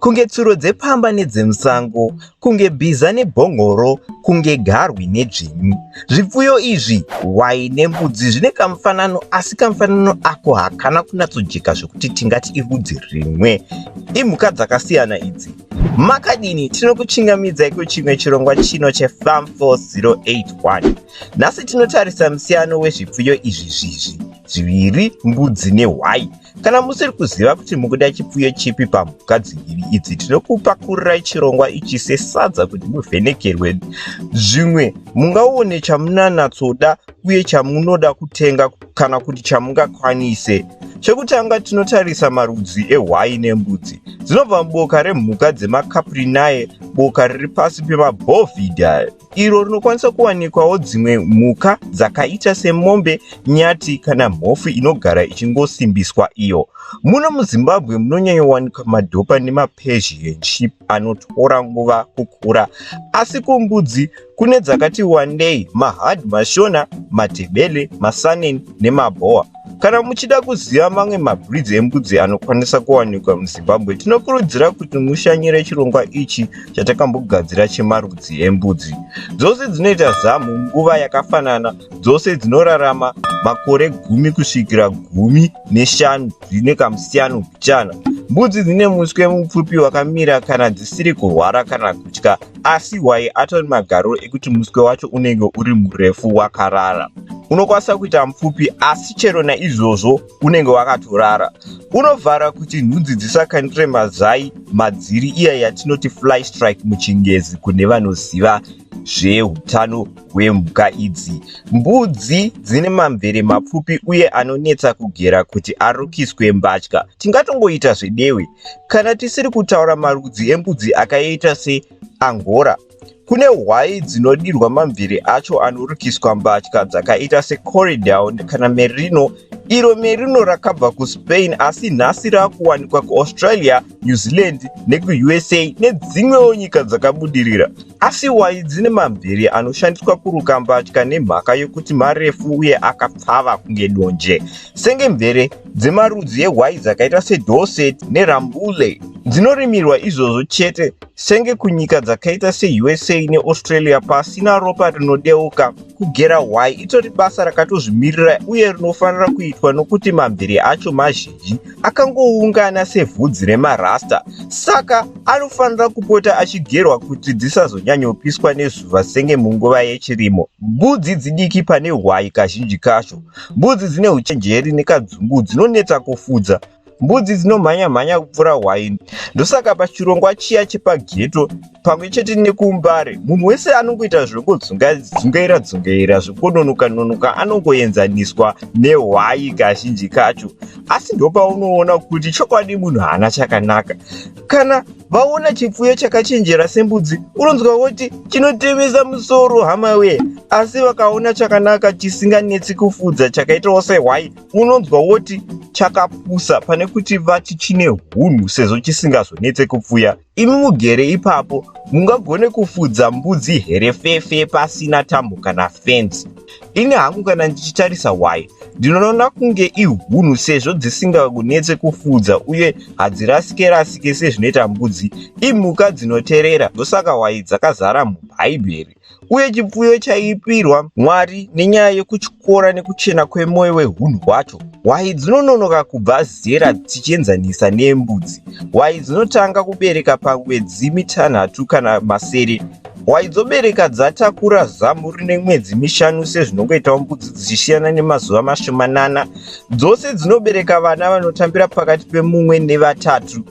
Kunge tsuro dzepamba nedzemusango, kunge bhiza nebhongoro, kunge garwi nedzvinyu. Zvipfuyo izvi, hwai nembudzi, zvine kamufanano asi kamufanano ako hakana kunatsojeka zvekuti tingati irudzi rimwe. Imhuka dzakasiyana idzi. Makadini tinokuchingamidzai kuchimwe chirongwa chino cheFarm 4081. Nhasi tinotarisa musiyano wezvipfuyo izvi zvizvi zviviri, mbudzi nehwai. Kana musiri kuziva kuti mukuda chipfuyo chipi pamhuka dziviri idzi, tinokupakururai chirongwa ichi sesadza kuti muvhenekerwe. Zvimwe mungaone chamunanatsoda uye chamunoda kutenga kana kuti chamungakwanise. Chekutanga tinotarisa marudzi ehwai nembudzi dzinobva muboka remhuka dzemaCaprinae, boka riri pasi pemaBovidae. iro rinokwanisa kuwanikwawo dzimwe mhuka dzakaita semombe nyati kana mhofu inogara ichingosimbiswa iyo muno muzimbabwe munonyanyowanikwa madhopa nemapersian ship anotora nguva kukura asi kumbudzi kune dzakati wandei mahard mashona matebele masanen nemabhoa Kana muchida kuziva mamwe mabhridzi embudzi anokwanisa kuwanikwa muZimbabwe, tinokurudzira kuti mushanyire chirongwa ichi chatakambogadzira chemarudzi embudzi. Dzose dzinoita zamu nguva yakafanana, dzose dzinorarama makore gumi kusvikira gumi neshanu dzine kamusiyano mbichana. Mbudzi dzine muswe mupfupi wakamira kana dzisiri kurwara kana kutya. Asi hwai atori magariro ekuti muswe wacho unenge uri murefu wakarara. Unokwanisa kuita mupfupi asi chero naizvozvo unenge wakatorara. Unovhara kuti nhunzi dzisakanire mazai madziri iya yatinoti fly strike muchingezi kune vanoziva zveutano hwemhuka idzi. Mbudzi dzine mamvere mapfupi uye anonetsa kugera kuti arukiswe mbatya. Tingatongoita zvedewe Kana tisiri kutaura marudzi embudzi akaita seAngora, kune hwai dzinodirwa mamvere acho anorukiswa mbatya dzakaita seCorridown kana Merino, iro Merino rakabva kuSpain asi nhasi rakuwanikwa kuAustralia, New Zealand nekuUSA nedzimwewo nyika dzakabudirira. Asi wayi dzine mambere anoshandiswa kuruka mbatya nemhaka yokuti marefu uye akapfava kunge donje, senge mvere dzemarudzi ewayi dzakaita seDorset neRambouillet. Dzinorimirwa izvozvo chete, senge kunyika dzakaita seUSA neAustralia pasina ropa rinodeuka. Kugera wayi itori basa rakatozvimirira uye rinofanira kuitwa nokuti mambere acho mazhinji. Daddy akangoungana sevhudzi remarasta saka anofanira kupota achigerwa kuti dzisazonyanyopiswa nezuva senge munguva yechirimo. Mbudzi dzidiki pane hwayi kazhinji kacho. Mbudzi dzine uchenjeri nekadzungu dzinonetsa kufudza. Mbudzi dzinomhanya mhanya kupfuura hwayi ndosaka pachirongwa chiya chepageto pamwe chete nekumbare munhu wese anongoita zvekungodzungaira dzungaira zvekungononoka nonoka anongoenzaniswa nehwai kazhinji kacho asi ndopaunoona kuti chokwadi munhu haana chakanaka kana vaona chipfuyo chakachenjera sembudzi unonzwa voti chinotemesa musoro hama wee asi vakaona chakanaka chisinganetsi kufudza chakaitawo sehwai unonzwa voti chakapusa pane kuti vati chine hunhu sezvo chisingazonetse kupfuya Imi mugere ipapo mungagone kufudza mbudzi here fefe pasina tambo kana fence. Ini hangu kana ndichitarisa hwai ndinoona kunge ihunhu sezvo dzisingakunetse kufudza uye hadzirasike rasike sezvinoita mbudzi imhuka dzinoterera ndosaka hwai dzakazara mubhaibheri. uye chipfuyo chaipirwa Mwari nenyaya yokutyora nekuchena kwemwoyo wehunhu hwacho. Hwayi dzinononoka kubva zera tichienzanisa nembudzi. Hwayi dzinotanga kubereka pamwedzi mitanhatu kana masere. Hwayi dzobereka dzatakura zamu rine mwedzi mishanu sezvinongoitawo mbudzi dzichisiyana nemazuva mashomanana. Dzose dzinobereka vana vanotambira pakati pemumwe nevatatu.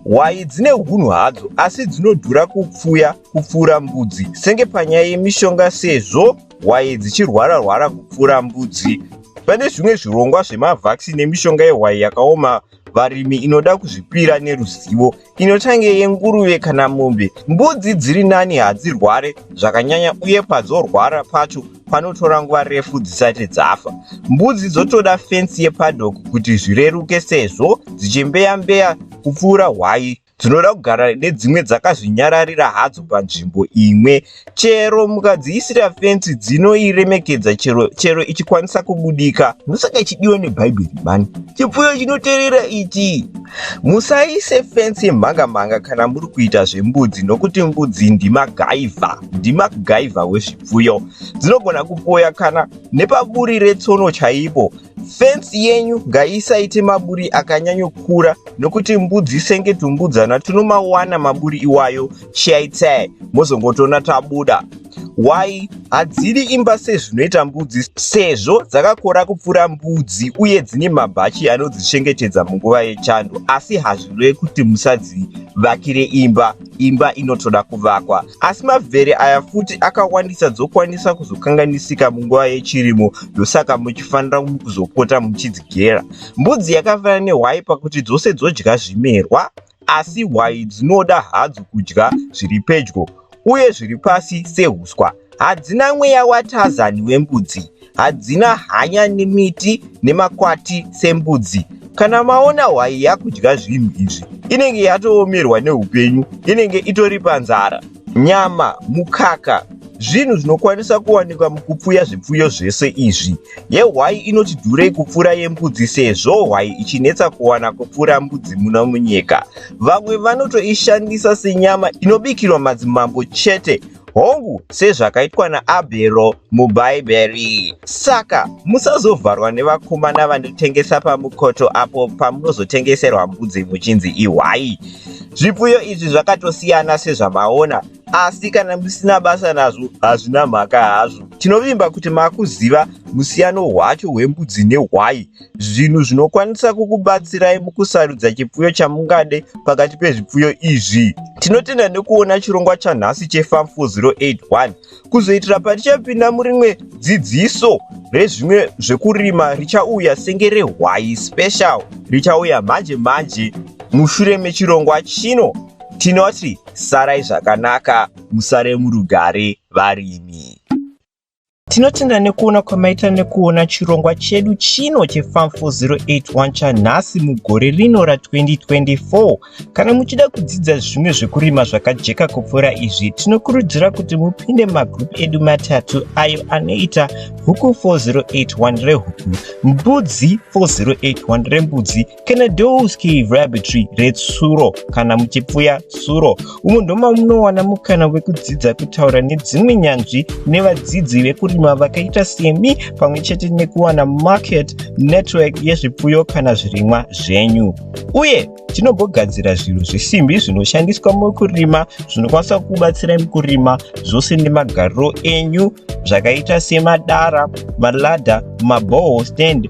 Hwayi dzine hunhu hadzo asi dzinodhura kupfuya kupfuura mbudzi senge panyaya yemishonga sezvo hwayi dzichirwara rwara kupfuura mbudzi pane zvimwe zvirongwa zvemavhaccine nemishonga yehwayi yakaoma varimi inoda kuzvipira neruzivo inotange yenguruve kana mombe mbudzi dziri nani hadzirware zvakanyanya uye padzorwara pacho panotora nguva refu dzisati dzafa mbudzi dzotoda fensi yepadok kuti zvireruke sezvo dzichimbeya mbeya kupfuura hwayi dzinoda kugara nedzimwe dzakazvinyararira hadzo panzvimbo imwe chero mukadziisira fensi dzinoiremekedza chero, chero ichikwanisa kubudika ndosaka ichidiwa nebhaibheri mani chipfuyo chinoterera ichi musaise fensi yemhangamhanga kana muri kuita zvembudzi nokuti mbudzi ndimagaivha ndimagaivha wezvipfuyo dzinogona kupoya kana nepaburi retsono chaipo Fensi yenyu ngaisaite maburi akanyanyokura nokuti mbudzi senge tumbudzana tunomawana maburi iwayo chaitai mozongotoona tabuda. Why hadzidi imba sezvinoita mbudzi sezvo dzakakora kupfura mbudzi uye dzine mabhachi anodzichengetedza munguva yechando asi hazvireve kuti musadzivakire imba. Imba inotoda kuvakwa. Asi mavhere aya futi akawandisa dzokwanisa kuzokanganisika munguva yechirimo ndosaka muchifanira kuzopota muchidzigera. Mbudzi yakafanana nehwai pakuti dzose dzodya zvimerwa asi hwai dzinoda hadzo kudya zviri pedyo uye zviri pasi sehuswa. Hadzina mweya waTarzan wembudzi. hadzina hanya nemiti nemakwati sembudzi kana maona hwai yakudya zvinhu izvi inenge yatoomerwa neupenyu inenge itori panzara nyama mukaka zvinhu zvinokwanisa kuwanikwa mukupfuya zvipfuyo zvese izvi yehwai inoti dhurei kupfuura yembudzi sezvo hwai ichinetsa kuwana kupfuura mbudzi muno munyika vamwe vanotoishandisa senyama inobikirwa madzimambo chete hongu sezvakaitwa naabhero mubhaibheri saka musazovharwa nevakomana vanotengesa pamukoto apo pamunozotengeserwa mbudzi muchinzi ihwai zvipfuyo izvi zvakatosiyana sezvamaona asi kana musina basa nazvo hazvina mhaka hazvo tinovimba kuti makuziva musiyano hwacho hwembudzi nehwai Zvinhu zvinokwanisa kukubatsirai mukusarudza chipfuyo chamungade pakati pezvipfuyo izvi. Tinotenda nekuona chirongwa chanhasi cheFarm 4081. Kuzoitira patichapinda murimwe dzidziso rezvimwe zvekurima richauya senge rehwayi special richauya manje manje mushure mechirongwa chino tinoti sarai zvakanaka musare murugare varimi. Tinotenda nekuona kwamaita nekuona chirongwa chedu chino cheFarm 4081 chanhasi mugore rino ra2024. Kana muchida kudzidza zvimwe zvekurima zvakajeka kupfuura izvi, tinokurudzira kuti mupinde mumagrupu edu matatu ayo anoita Huku 4081 rehuku, Mbudzi 4081 rembudzi Kenedowski Rabbitry retsuro kana muchipfuya tsuro umo ndoma munowana mukana wekudzidza kutaura nedzimwe nyanzvi nevadzidzi vekurima vakaita semi pamwe chete nekuwana market network yezvipfuyo kana zvirimwa zvenyu uye tinogogadzira zvinhu zvesimbi zvinoshandiswa mukurima zvinokwanisa kubatsira mukurima zvose nemagariro enyu zvakaita semadara malada maboho stand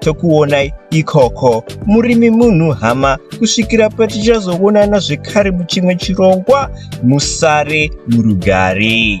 tokuonai ikoko murimi munhu hama kusvikira patichazoonana zvekare muchimwe chirongwa musare murugare